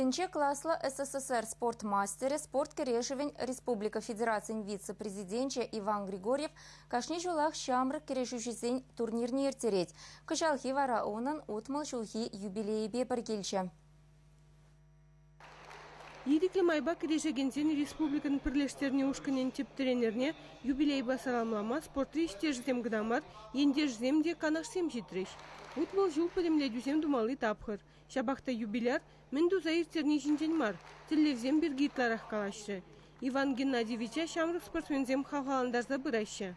Тӗнче класлӑ СССР спорт мастерӗ, спорт кӗрешӗвӗн республика федерацийӗн вице-президенчӗ Иван Григорьев кашни ҫулах ҫамрӑк кӗрешӳҫӗсен турнирне ирттерет. Кӑҫалхи вара унӑн утмӑл ҫулхи юбилейӗпе пӗр килчӗ. Ирӗклӗ майпа кӗрешекенсен республикӑн пӗрлештернӗ ушкӑнӗн тӗп тренерне юбилейпа саламлама спортри ӗҫтешӗсем кӑна мар, ентешсем те, канашсем ҫитрӗҫ. Утмӑл ҫул пӗтӗмлетӳсем тумалли тапхӑр. Ҫапах та юбиляр мӗн туса ирттерни ҫинчен мар, тӗллевсем пирки ытларах калаҫрӗ. Иван Геннадьевича ҫамрӑк спортсменсем хавхалантарса пыраҫҫӗ.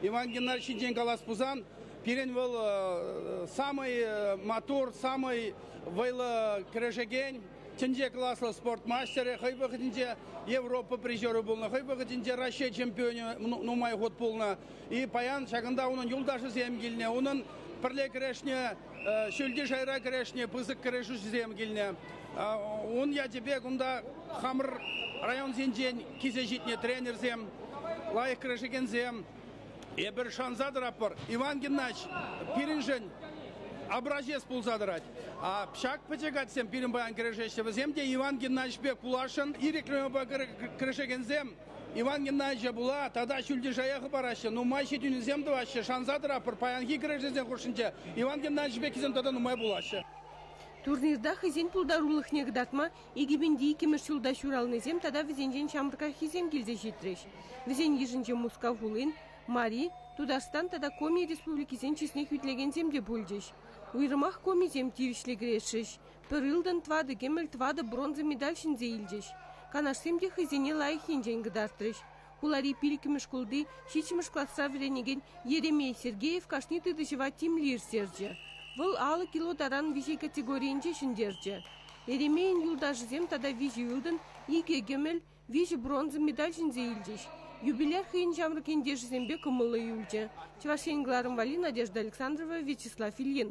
Иван Геннадьевич ҫинчен калас пулсан, пирӗн вӑл самый матур, самый вӑйлӑ кӗрешекен, тӗнче класлӑ спорт мастерӗ, хӑй вӑхӑтӗнче Европа призерӗ пулнӑ, хӑй вӑхӑтӗнче Раҫҫей чемпионӗ нумай хут пулнӑ. И паян ҫакӑнта унӑн юлташӗсем килнӗ, унӑн пӗрле кӗрешнӗ ҫӳлти шайра кӗрешни пысӑк кӗрешӳсем килнӗ. Ун ячӗпе кунта хамӑр районсенчен килсе ҫитнӗ тренерсем, лайӑх кӗрешекенсем. Эпир шанса тӑратпӑр, Иван Геннадьевич пирӗншӗн образец пулса тӑрать. А ҫак пӗчӗк атьсем пирӗн паян кӗрешеҫҫӗ. Вӗсем те Иван Геннадьевич пек пуласшӑн, ирӗклӗ кӗрешекенсем. Иван Геннадьевича пула тата ҫӳлтишая хӑпараҫҫӗ, нумай ҫитӗнӳсем тӑваҫҫӗ. Шанса тӑратпӑр, паянхи кӗрешӳсен хушшинче Иван Геннадьевич пеккисем тата нумай пулаҫҫӗ. Турнирта хӑйсен пултарулӑхне кӑтартма икӗпенти иккӗмӗш ҫулта ҫуралнисем тата вӗсенчен ҫамрӑкраххисем килсе ҫитрӗҫ. Вӗсен йышӗнче Мускав хулин, Мари, Тутарстан тата Коми республикисен чысне хӳтлекенсем те пулчӗҫ. Уйрӑмах Комисем тивӗҫлӗ кӗрешрӗҫ, Пӗр ылтӑн, тӑватӑ кӗмӗл, тӑватӑ бронза медаль ҫӗнсе илчӗҫ. Канашсем те хӑйсене лайӑх енчен кӑтартрӗҫ. хулари пиллӗкмӗш шкулти ҫиччӗмӗш класра вӗренекен Еремей Сергеев кашни тытӑҫӑва тимлӗ ирттерчӗ. Вӑл алӑ кило таран виҫе категорийӗнче ҫӗнтерчӗ. Еремейӑн юлташӗсем тата виҫӗ ылтӑн, икӗ кӗмӗл, виҫӗ бронза медаль ҫӗнсе илчӗҫ. Юбиляр хӑйӗн ҫамрӑк ентешӗсемпе кӑмӑллӑ юлчӗ – Чӑваш Ен кӑларӑмвалли Надежда Александрова, Вячеслав Ильин.